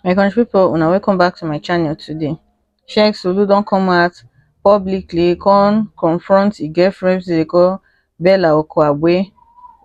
my country people una welcome back to my channel today sheikh sulu don come out publicly come confront e girlfriend wey dey call bella okoagbe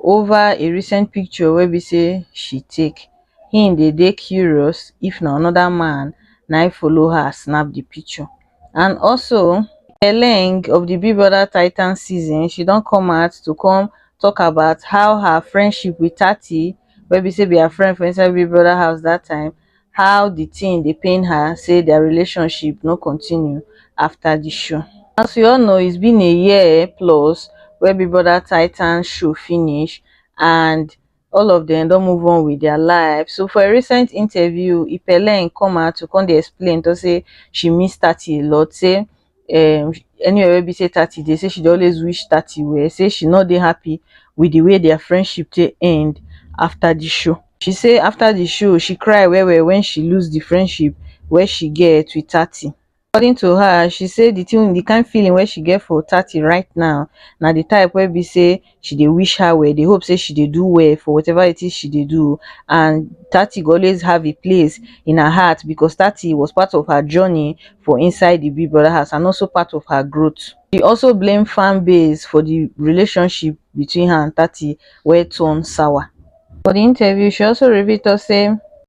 over a recent picture wey be say she take him dey dey curious if na another man na follow her snap the picture and also di ending of di big brother titans season she don come out to come tok about how her friendship wit tati wey be say be her friend for inside big brother house dat time how di tin dey pain her say dia relationship no continue afta di show as we all know it's been a year plus wey big brother titans show finish and all of dem don move on wit dia life so for a recent interview ipeleign come out to come dey explain to say she miss thirty a lot say um anywhere wey be say thirty dey say she dey always wish thirty were say she no dey happy wit di way dia friendship take end afta di show she say afta di show she cry wellwell wen she lose di friendship wey she get wit thirty According to her, she say di tin di kain feeling wey she get for Tati right now na di type wey be say she dey wish her well, dey hope say she dey do well for whatever it is she dey do and Tati go always have a place in her heart because Tati was part of her journey for inside di Big Brother house and also part of her growth. She also blame fan base for di relationship between her and Tati wey turn sour. For di interview, she also reveal tok say.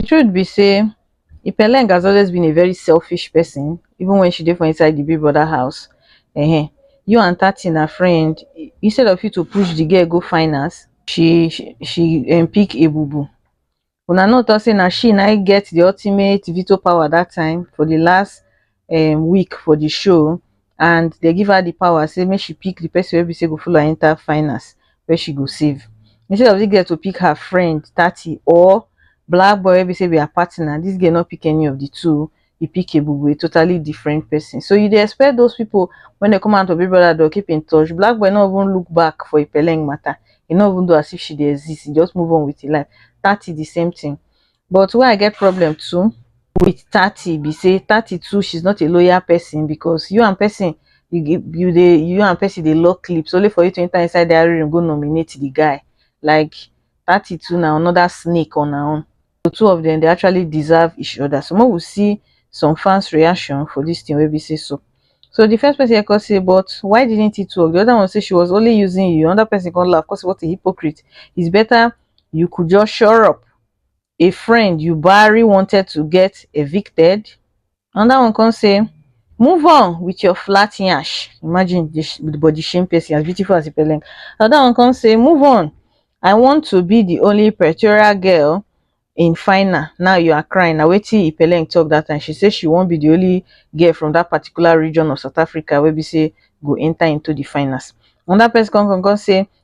The truth be say Ipeleng has always been a very selfish person even when she dey for inside the big brother house. Ehen, you and Tati na friend, instead of you to push the girl go finance, she she she um pick Ebubu. Una no talk say na she na im get the ultimate veto power that time for the last um week for the show and they give her the power say make she pick the person wey be say go follow her enter finals wey she go save instead of this girl to pick her friend Tati or black boy wey be say be her partner this girl no pick any of the two he pick Ebube a totally different person so you dey expect those people when they come out of Big Brother they'll keep in touch black boy no even look back for Ipeleng matter he no even do as if she dey exist he just move on with his life Tati the same thing But wey I get problem too with Tati be say Tati too she's not a loyal person because you and person you you dey you and person dey lock clips only for you to enter inside their room go nominate the guy like Tati too na another snake on her own. The two of them they actually deserve each other so make we see some fans reaction for this thing wey be say so. So the first person here come say but why didn't he talk the other one say she was only using you another person come laugh come say what a hypocrite it's better you could just shut up a friend you buhari wanted to get evicted anoda one come say move on with your flat yansh imagine di sh- di body shame person as beautiful as ipele anoda one come say move on i want to be di only pretoria girl in final now you are crying na wetin ipele talk dat time she say she wan be di only girl from dat particular region of south africa wey be say go enta into di finals anoda person come come come say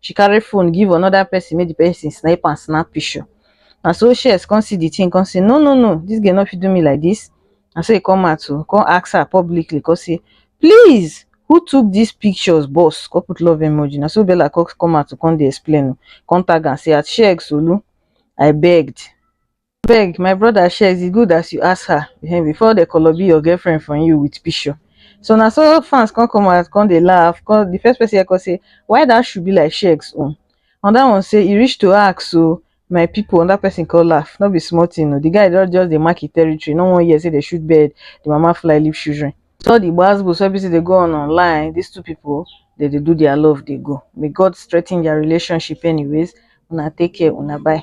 she carry phone give another person make the person snipe and snap picture na so shes come see the thing come say no no no this girl no fit do me like this na so he come out to come ask her publicly come say please who took these pictures boss come put love emoji na so bella come come out to come dey explain o come tag am say at shey solu i begged abeg my brother shares e good as you ask her um before dey koloby your girlfriend from you with pishure so na so fans come come out come dey laugh come the first person here come say why that shoe be like shegs own another one say e reach to ask o my people another person come laugh no be small thing o the guy don just dey mark e territory no wan hear say dey shoot bird the mama fly leave children with all the gbas gbos wey be say dey go on online these two people dey dey do their love dey go may God strengthen their relationship anyways una take care una bye.